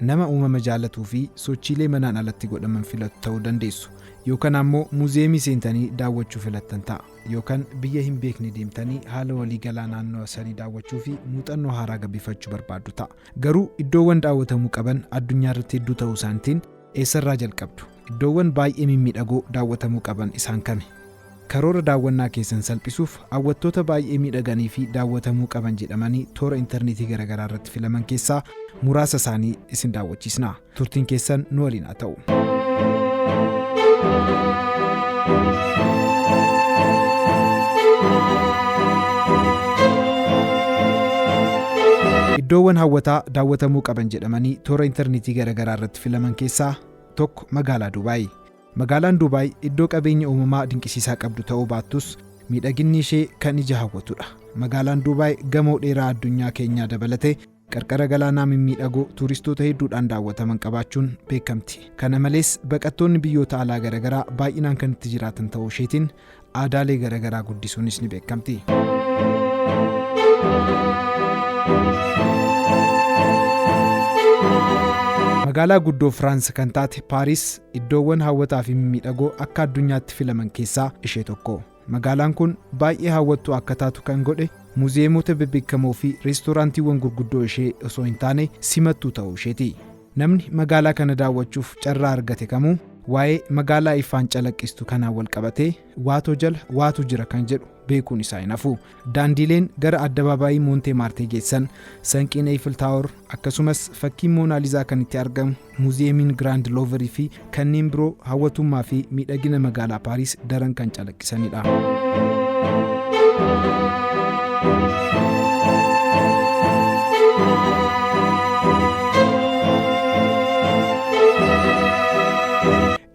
Nama uumama jaallatuu fi sochiilee manaan alatti godhaman filattu ta'uu dandeessu. Yookan ammoo muuziyeemii seentanii daawwachuu filattan ta'a. Yookan biyya hin beekne deemtanii haala walii galaa naannawa sanii daawwachuu fi muuxannoo haaraa gabbifachuu barbaaddu ta'a. Garuu iddoowwan daawwatamuu qaban addunyaa irratti hedduu ta'uu isaanitiin eessarraa jalqabdu? Iddoowwan baay'ee mimmiidhagoo daawwatamuu qaban isaan kami? Karoora daawwannaa keessan salphisuuf hawwattoota baay'ee miidhaganii fi daawwatamuu qaban jedhamanii toora interneetii garagaraa irratti filaman keessaa muraasa isaanii isin daawwachiisna. Turtiin keessan nu waliin haa ta'u. Iddoowwan hawwataa daawwatamuu qaban jedhamanii toora interneetii garagaraa irratti filaman keessaa tokko magaalaa Duubaay. Magaalaan Duubaay iddoo qabeenya uumamaa dinqisiisaa qabdu ta'uu baattus, miidhaginni ishee kan ija hawwatudha. Magaalaan Duubaay gamoo dheeraa addunyaa keenyaa dabalatee qarqara galaanaa mimmiidhagoo tuuristoota hedduudhaan daawwataman qabaachuun beekamti. Kana malees, baqattoonni biyyoota alaa garagaraa baay'inaan kan itti jiraatan ta'uu isheetiin Aadaalee gara garaa guddisuunis ni beekamti. Magaalaa guddoo Firaans kan taate Paaris iddoowwan hawwataa fi mimmiidhagoo akka addunyaatti filaman keessaa ishee tokko. Magaalaan kun baay'ee hawwattuu akka taatu kan godhe muuziyeemota bebbeekamoo fi reestooraantiiwwan gurguddoo ishee osoo hin taane simattuu ta'uu isheeti. Namni magaalaa kana daawwachuuf carraa argate kamuu waa'ee magaalaa ifaan calaqqistu kanaan wal qabatee waatoo jala waatu jira kan jedhu beekuun isaa hin hafu. Daandiileen gara addabaabaayii Moontee Maartee geessan, sanqiin Eeyfil Taawor, akkasumas fakkiin Moonaalizaa kan itti argamu muuziyeemiin Giraand Looverii fi Kanneen biroo hawwatummaa fi miidhagina magaalaa Paariis daran kan calaqqisanidha.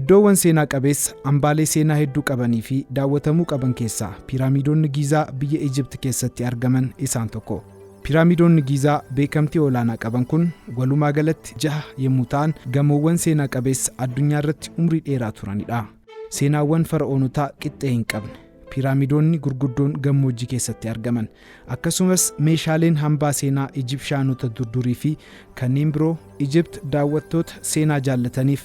Iddoowwan seenaa qabeessa hambaalee seenaa hedduu qabanii fi daawwatamuu qaban keessaa Piiraamiidonni Giizaa biyya Ijipt keessatti argaman isaan tokko. Piraamidoonni Giizaa beekamtii olaanaa qaban kun walumaa galatti jaha yommuu ta'an, gamoowwan seenaa qabeessa addunyaa irratti umrii dheeraa turani dha. Seenaawwan Fara'oonotaa qixxee hin qabne. Piraamidoonni gurguddoon gammoojjii keessatti argaman. Akkasumas meeshaaleen hambaa seenaa Ijibshaanota durdurii fi kanneen biroo Ijipt daawwattoota seenaa jaallataniif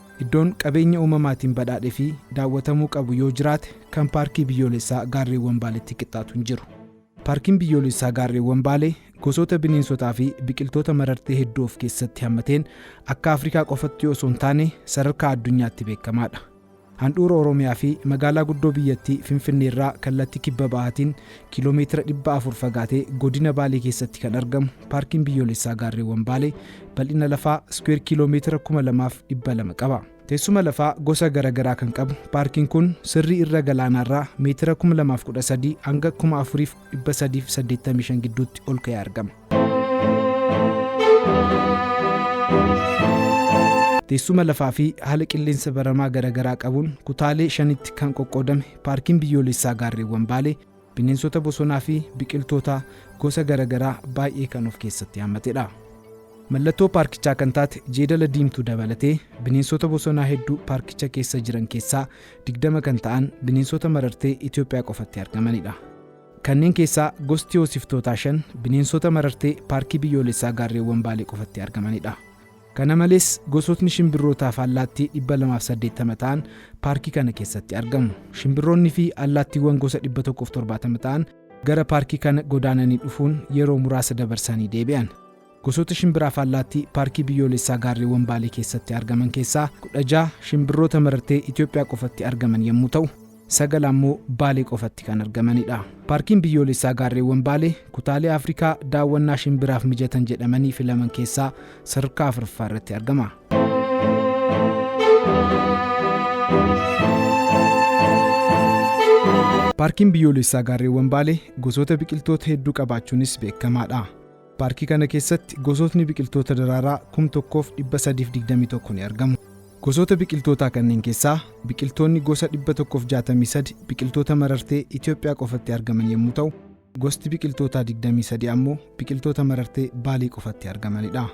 Iddoon qabeenya uumamaatiin badhaadhe fi daawwatamuu qabu yoo jiraate kan Paarkii Biyyoolessaa Gaarreewwan Baaleetti qixxaatu hin jiru. Paarkiin Biyyoolessaa Gaarreewwan Baalee gosoota bineensotaa fi biqiltoota marartee hedduu of keessatti hammateen akka Afrikaa qofatti osoo hin taane sadarkaa addunyaatti beekamaadha. Handhuura Oromiyaa fi magaalaa guddoo biyyattii Finfinneerraa kallattii kibba bahaatiin Kiiloomeetira 400 fagaatee godina Baalee keessatti kan argamu Paarkiin Biyyoolessaa Gaarreewwan Baalee bal'ina lafaa iskuweer kiiloomeetira 2200 qaba. Teessuma lafaa gosa gara garaa kan qabu paarkiin kun sirrii irra galaanaarraa meetira 2013 hanga 4385 gidduutti ol ka'ee argama. Teessuma lafaa fi haala qilleensa baramaa garagaraa qabuun kutaalee shanitti kan qoqqoodame Paarkiin Biyyoolessaa Gaarreewwan Baalee bineensota bosonaa fi biqiltoota gosa garagaraa baay'ee kan of keessatti hammatedha. Mallattoo paarkichaa kan taate jeedala diimtuu dabalatee bineensota bosonaa hedduu paarkicha keessa jiran keessaa 20 kan ta'an bineensota marartee Itoophiyaa qofatti argamanidha. Kanneen keessaa gosti hoosiftootaa shan bineensota marartee Paarkii Biyyoolessaa Gaarreewwan Baalee qofatti argamanidha. Kana malees, gosootni shimbirrootaa fi allaattii 280 ta'an paarkii kana keessatti argamu. Shimbirroonni fi allaattiiwwan gosa 170 ta'an gara paarkii kana godaananii dhufuun yeroo muraasa dabarsanii deebi'an. Gosoota shimbira afaallaattii Paarkii Biyyoolessaa Gaarreewwan Baalee keessatti argaman keessaa 16 shimbirroota marartee Itoophiyaa qofatti argaman yammuu ta'u, 9 ammoo Baalee qofatti kan argamanidha. Paarkiin Biyyoolessaa Gaarreewwan Baalee kutaalee Afrikaa daawwannaa shimbiraaf mijatan jedhamanii filaman keessaa sadarkaa 4ffaa irratti argama. Paarkiin Biyyoolessaa Gaarreewwan Baalee gosoota biqiltoota hedduu qabaachuunis beekamaadha. Paarkii kana keessatti gosootni biqiltoota daraaraa kum 1 fi 321 ni argamu. Gosoota biqiltootaa kanneen keessaa biqiltoonni gosa 163 biqiltoota marartee Itoophiyaa qofatti argaman yommuu ta'u, gosti biqiltootaa 23 ammoo biqiltoota marartee Baalee qofatti argamanidha.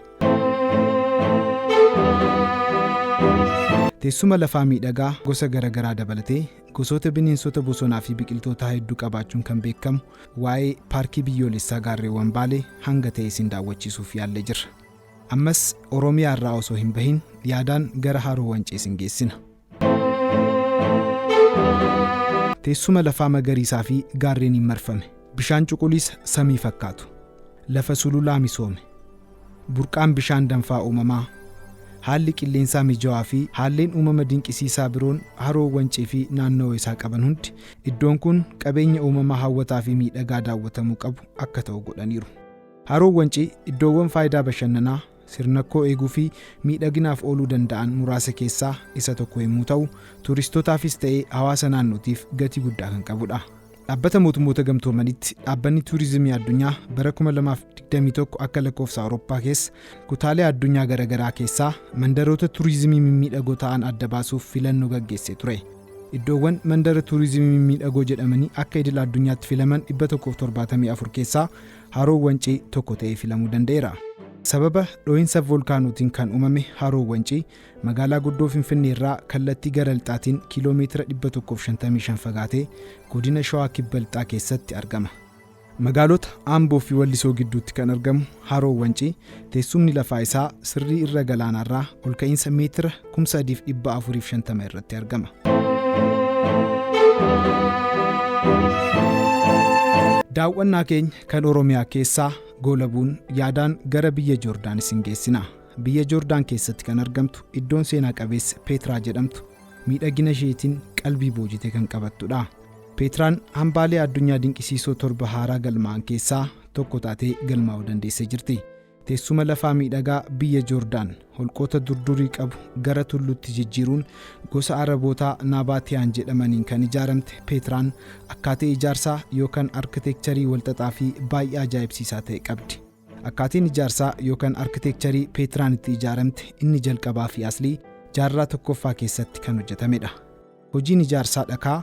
Teessuma lafaa miidhagaa gosa garagaraa dabalatee gosoota bineensota bosonaa fi biqiltootaa hedduu qabaachuun kan beekamu Waa'ee Paarkii Biyyoolessaa Gaarreewwan Baalee hanga ta'e isin daawwachiisuuf yaallee jirra. Ammas Oromiyaa irraa osoo hin bahin yaadaan gara Haroo Wancii isin geessina. Teessuma lafaa magariisaa fi gaarreeniin marfame. Bishaan cuquliisa samii fakkaatu. Lafa sululaa misoome. Burqaan bishaan danfaa uumamaa, haalli qilleensaa mijawaa fi haalleen uumama dinqisiisaa biroon Haroo Wancii fi naannawa isaa qaban hundi iddoon kun qabeenya uumamaa hawwataa fi miidhagaa daawwatamuu qabu akka ta'u godhaniiru. Haroon Wancii iddoowwan faayidaa bashannanaa, sirnakkoo eeguu fi miidhaginaaf ooluu danda'an muraasa keessaa isa tokko yemmuu ta'u, tuuristotaafis ta'ee hawaasa naannootiif gatii guddaa kan qabudha. Dhaabbata Mootummoota Gamtoomanitti Dhaabbanni Tuurizimii Addunyaa bara 2021 akka lakkoofsa Awurooppaa keessa kutaalee addunyaa garaagaraa keessaa mandaroota tuurizimii mimmiidhagoo ta'an adda baasuuf filannoo gaggeessee ture. Iddoowwan mandara tuurizimii mimmiidhagoo jedhamanii akka idil addunyaatti filaman 174 keessaa Haroon Wancii tokko ta'ee filamuu danda'eera. Sababa dhoohinsa voolkaanootiin kan uumame Haroon Wancii Magaalaa guddoo Finfinnee irraa kallattii gara lixaatiin kiiloo meetira 155 fagaatee godina Shawaa Kibba Lixaa keessatti argama. Magaalota Amboo fi Wallisoo gidduutti kan argamu Haroo Wancii teessumni lafaa isaa sirrii irra galaanaarraa ol ka'iinsa meetira 3450 irratti argama. Daawwannaa keenya kan Oromiyaa keessaa goolabuun yaadaan gara biyya Joordaan isin geessina. biyya Joordaan keessatti kan argamtu iddoon seenaa qabeessa Peetraa jedhamtu miidhagina isheetiin qalbii boojite kan qabattudha. Peetraan hambaalee addunyaa dinqisiisoo torba haaraa galmaa'an keessaa tokko taatee galmaa'uu dandeessee jirti. Teessuma lafaa miidhagaa biyya Joordaan holqoota durdurii qabu gara tulluutti jijjiiruun gosa Arabootaa Naabaatiyaan jedhamaniin kan ijaaramte Peetraan akkaataa ijaarsaa yookaan arkiteekcharii walxaxaa fi baay'ee ajaa'ibsiisaa ta'e qabdi. Akkaatiin ijaarsaa yookaan arkiteekcharii Peetraan itti ijaaramte inni jalqabaa fi aslii jaarraa tokkoffaa keessatti kan hojjetamedha. Hojiin ijaarsaa dhakaa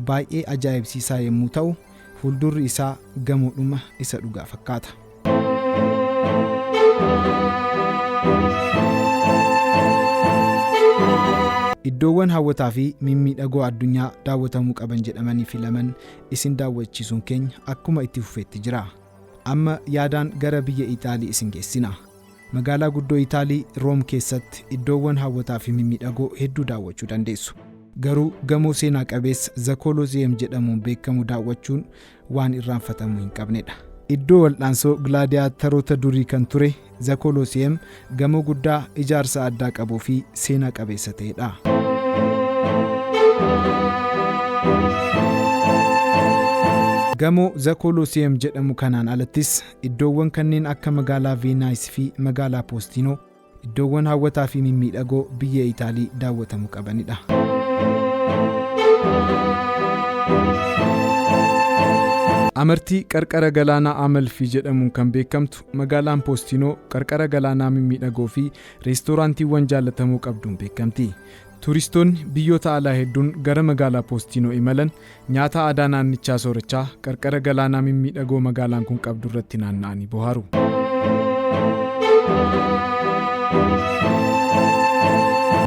baay'ee ajaa'ibsiisaa yommuu ta'u, fuuldurri isaa gamoodhuma isa dhugaa fakkaata. Iddoowwan hawwataa fi mimmiidhagoo addunyaa daawwatamuu qaban jedhamanii filaman isin daawwachiisuun keenya akkuma itti fufeetti jira. Amma yaadaan gara biyya Ixaalii isin geessina. Magaalaa guddoo Itaalii, Room keessatti iddoowwan hawwataa fi mimmiidhagoo hedduu daawwachuu dandeessu. Garuu gamoo seenaa qabeessa The Colosseum jedhamuun beekamu daawwachuun waan irraanfatamuu hin qabnedha. Iddoo waldhaansoo gilaadiyaattaroota durii kan ture The Colosseum gamoo guddaa ijaarsa addaa qabuu fi seenaa qabeessa ta'edha. Gamoo The Colosseum jedhamu kanaan alattis iddoowwan kanneen akka magaalaa Veenaayis fi magaalaa Poostinoo iddoowwan hawwataa fi mimmiidhagoo biyya Itaalii daawwatamu qabanidha. Amartii qarqara galaanaa Amalfi jedhamuun kan beekamtu Magaalaan Poostinoo qarqara galaanaa mimmiidhagoo fi reestooraantiiwwan jaallatamoo qabduun beekamti. Tuuristoonni biyyoota alaa hedduun gara magaalaa Poostinoo imalan nyaata aadaa naannichaa soorachaa qarqara galaanaa mimmiidhagoo magaalaan kun qabdu irratti naanna'anii bohaaru.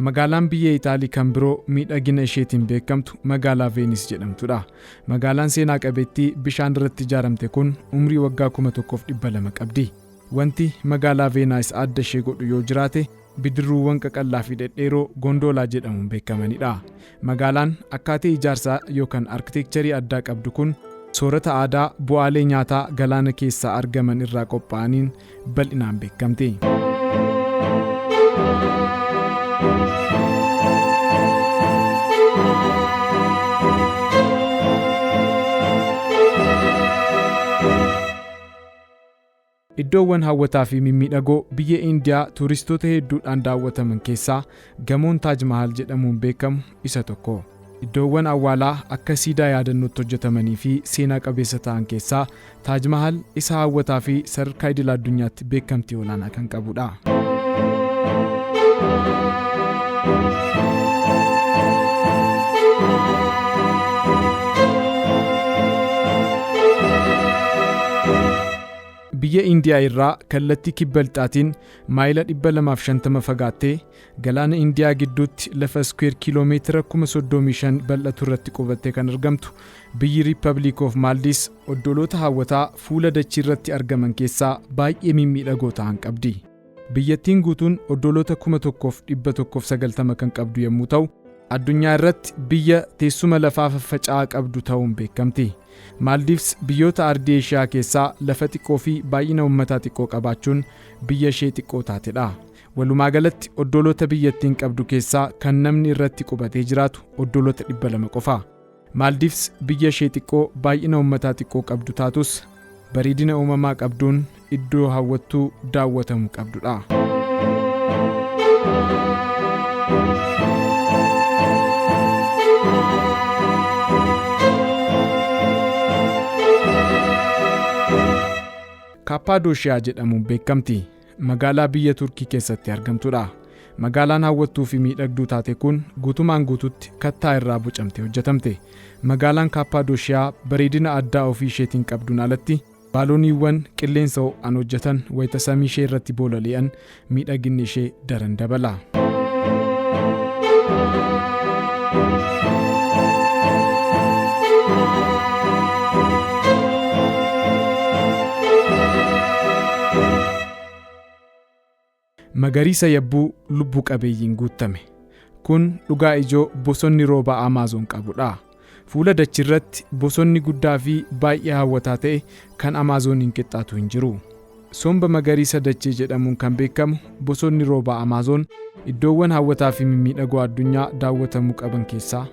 Magaalaan biyya Itaalii kan biroo miidhagina isheetiin beekamtu magaalaa Veenis jedhamtudha. Magaalaan seenaa qabeettii bishaan irratti ijaaramte kun umrii waggaa 1200 qabdi. Wanti magaalaa Veenaayis adda ishee godhu yoo jiraate bidirruuwwan qaqallaa fi dhedheeroo Gondoolaa jedhamuun beekamanidha. Magaalaan akkaatee ijaarsaa yookan arkiteekcharii addaa qabdu kun soorata aadaa bu'aalee nyaataa galaana keessaa argaman irraa qophaa'aniin bal'inaan beekamti. Iddoowwan hawwataa fi mimmiidhagoo biyya Indiyaa tuuristoota hedduudhaan daawwataman keessaa Gamoon Taaj Mahaal jedhamuun beekamu isa tokko. Iddoowwan awwaalaa akka siidaa yaadannootti hojjetamanii fi seenaa qabeessa ta'an keessaa Taaj Mahaal isa hawwataa fi sadarkaa idila addunyaatti beekamtii olaanaa kan qabudha. Biyya Indiyaa irraa kallattii kibba lixaatiin Maayila 250 fagaattee galaana Indiyaa gidduutti lafa iskuweer kiiloomeetira 35,000 bal'atu irratti qubattee kan argamtu biyyi Riippabliik of Maaldiis oddoloota hawwataa fuula dachii irratti argaman keessaa baay'ee mimmiidhagoo tahan qabdi. Biyyattiin guutuun oddoloota 1,190 kan qabdu yommuu tahu, addunyaa irratti biyya teessuma lafaa faffaca'aa qabdu tahuun beekamti. Maaldiivs biyyoota ardii Eeshiyaa keessaa lafa xiqqoo fi baay'ina ummataa xiqqoo qabaachuun biyya ishee xiqqoo taate dha. Walumaa galatti oddooloota biyyattiin qabdu keessaa kan namni irratti qubatee jiraatu oddooloota 200 qofa. Maaldiivs biyya ishee xiqqoo baay'ina ummataa xiqqoo qabdu taatus bareedina uumamaa qabduun iddoo hawwattuu daawwatamu qabdudha. Kaappaadooshiyaa jedhamuun beekamti. Magaalaa biyya Turkii keessatti argamtudha. Magaalaan hawwattuu fi miidhagduu taate kun guutumaan guututti kattaa irraa bocamtee hojjetamte. Magaalaan Kaappaadooshiyaa bareedina addaa ofii isheetiin qabduun alatti Baalooniiwwan qilleensa ho'aan hojjetan wayita samii ishee irratti boolali'an miidhaginni ishee daran dabala. Magariisa yabbuu lubbu qabeeyyiin guuttame. Kun dhugaa ijoo bosonni roobaa Amaazoon qabu dha. Fuula dachii irratti bosonni guddaa fi baay'ee hawwataa ta'e kan Amaazooniin qixxaatu hin jiru. Somba magariisa dachee jedhamuun kan beekamu bosonni roobaa Amaazoon iddoowwan hawwataa fi mimmiidhagoo addunyaa daawwatamuu qaban keessaa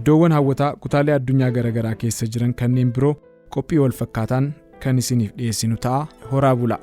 Iddoowwan hawwataa kutaalee addunyaa garagaraa keessa jiran kanneen biroo qophii wal fakkaataan kan isiniif dhiyeessinu ta'a horaa bulaa.